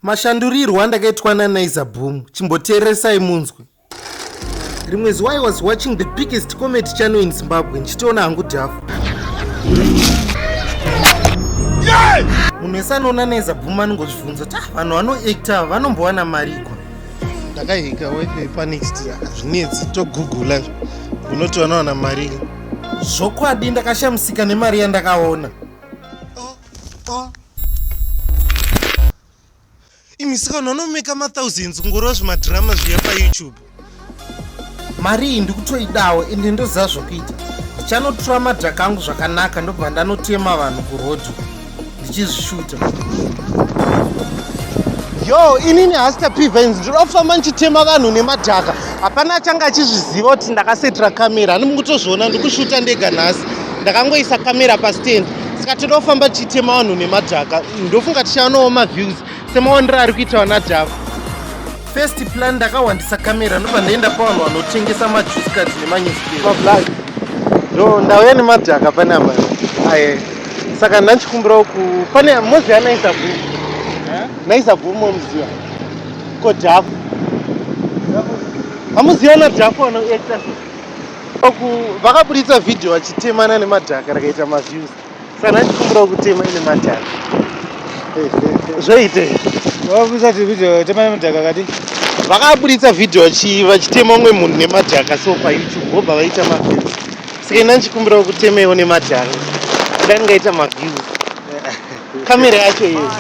Mashandurirwo andakaitwa naNaiza Boom, chimboteeresai munzwe. Rimwe zuva I was watching the biggest comedy channel in Zimbabwe ndichitoona hangu dhafu. Munhu wese anoona Naiza Boom anongozvibvunza kuti ah, vanhu vanoactor vanombowana mari ikwa. Ndakahika wifi panext hazvinetsi togugula unoti vanowana mari. Zvokwadi ndakashamisika nemari yandakaona. ah. imisikanhu anomeka mathousands kungoreva zvimadhirama zviya payoutube mari iyi ndikutoidawo ende ndoziva zvokuita ndichanotura madhaka angu zvakanaka ndobva ndanotema vanhu kurodhi ndichizvishuta yo inini hasta pivens ndinoda kufamba ndichitema vanhu nemadhaka hapana achange achizviziva kuti ndakasetira kamera ani mukutozviona ndikushuta ndega nhasi ndakangoisa kamera pastendi saka toda kufamba tichitema vanhu nemadhaka ndofunga tichawanawo maviews semawandiro ari kuita vana java first plan ndakawandisa kamera ndobva ndaenda pavanhu vanotengesa majuice card nemanyuspapla ndo ndauya nemadhaka pane apa aye saka ndandichikumbirawo ku pane mozi yanaisa bvu naisa bvu momuziva ko dhafu hamuziva nadhafu vanoekta Uku vakaburitsa video vachitemana nemadhaka rakaita maviews. Sana ndikumbira kutema ine madhaka. Zvoite. Vakaburitsa video tema nemadhaka kadi. Vakaburitsa video vachi vachitema umwe munhu nemadhaka so pa YouTube vobva vaita maviews. Saka ina ndikumbira kutemewo nemadhaka. Dai ngaita maviews. Kamera yacho iyo.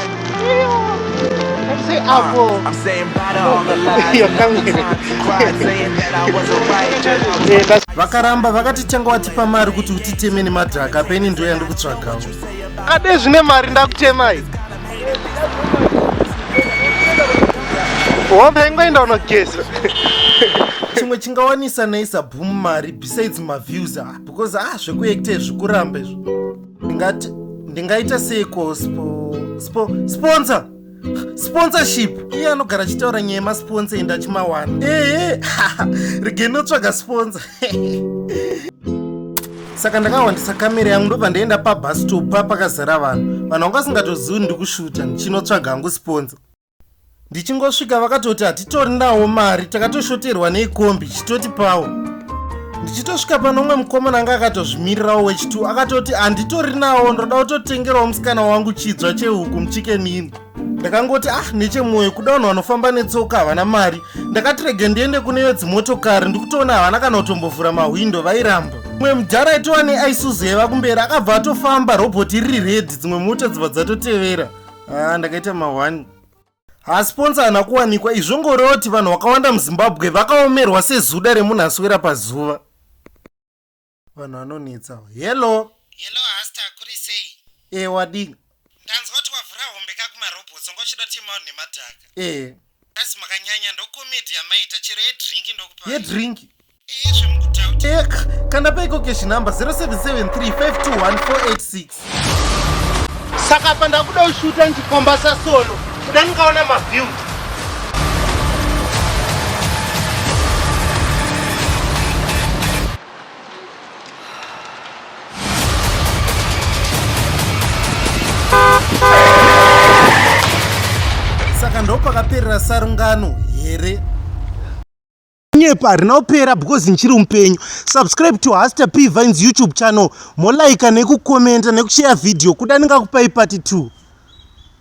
Say avo. I'm saying bye to all the lies. Your camera. Cried saying that I was alright. Eh, Vakaramba vakati tanga watipa mari kuti utiteme nemadhaka peni ndiyo yandikutsvagawo. Kade zvine mari ndakutemai. Hombe ingoenda unogeza. chimwe chingawanisa naisa boom mari besides maviews ah because ah zvekuekta zvikuramba izvo ndingati ndingaita seiko spo spo sponsor sponsorship iye anogara achitaura nyaya yemasponsor enda achimawana ehe rigenotsvaga sponsor saka ndakawandisa kamera yangu ndobva ndaenda pabastop pa pakazara vanhu vanhu vanga vasingatozivi ndikushuta ndichinotsvaga hangu sponza ndichingosvika vakatoti hatitori nawo mari takatoshoterwa neikombi chitoti pawo ndichitosvika pano umwe mukomana anga akatozvimirirawo wechitu akatoti handitori nawo ndoda kutotengerawo musikana wangu chidzwa chehuku muchikenini ndakangoti ah nechemwoyo kuda vanhu vanofamba netsoka havana mari ndakati rege ndiende kune vedzimotokari ndikutoona havana kana kutombovhura mahwindo vairamba mwe mudhara itowa neaisuzi yaiva kumberi akabva atofamba robhoti riri redhi dzimwe mota dzibva dzatotevera ah, ndakaita mahwani hasponsa hana kuwanikwa izvongorewo kuti vanhu vakawanda muzimbabwe vakaomerwa sezuda remunhu aswera pazuva vanhu vanonetsa hello hello hasta kuri sei e wadii ndanzwa kuti wavhura hombe kakumarobotso ngochida kuti maunhu nemadhaka e Guys makanyanya ndo comedy yamaita chero yedrink ndokupa. Yedrink. Iye zvemukutaura. Ek, kana paiko cash number 0773521486. Saka pa ndakuda ushuta ndikomba sa solo. Kuda ndikaona ma view. saka ndopakaperera sarungano here kunyepa harina kupera because ndichiri mupenyu subscribe to haster p vines youtube channel molaika nekukomenta nekushare video kuda ndingakupai pati 2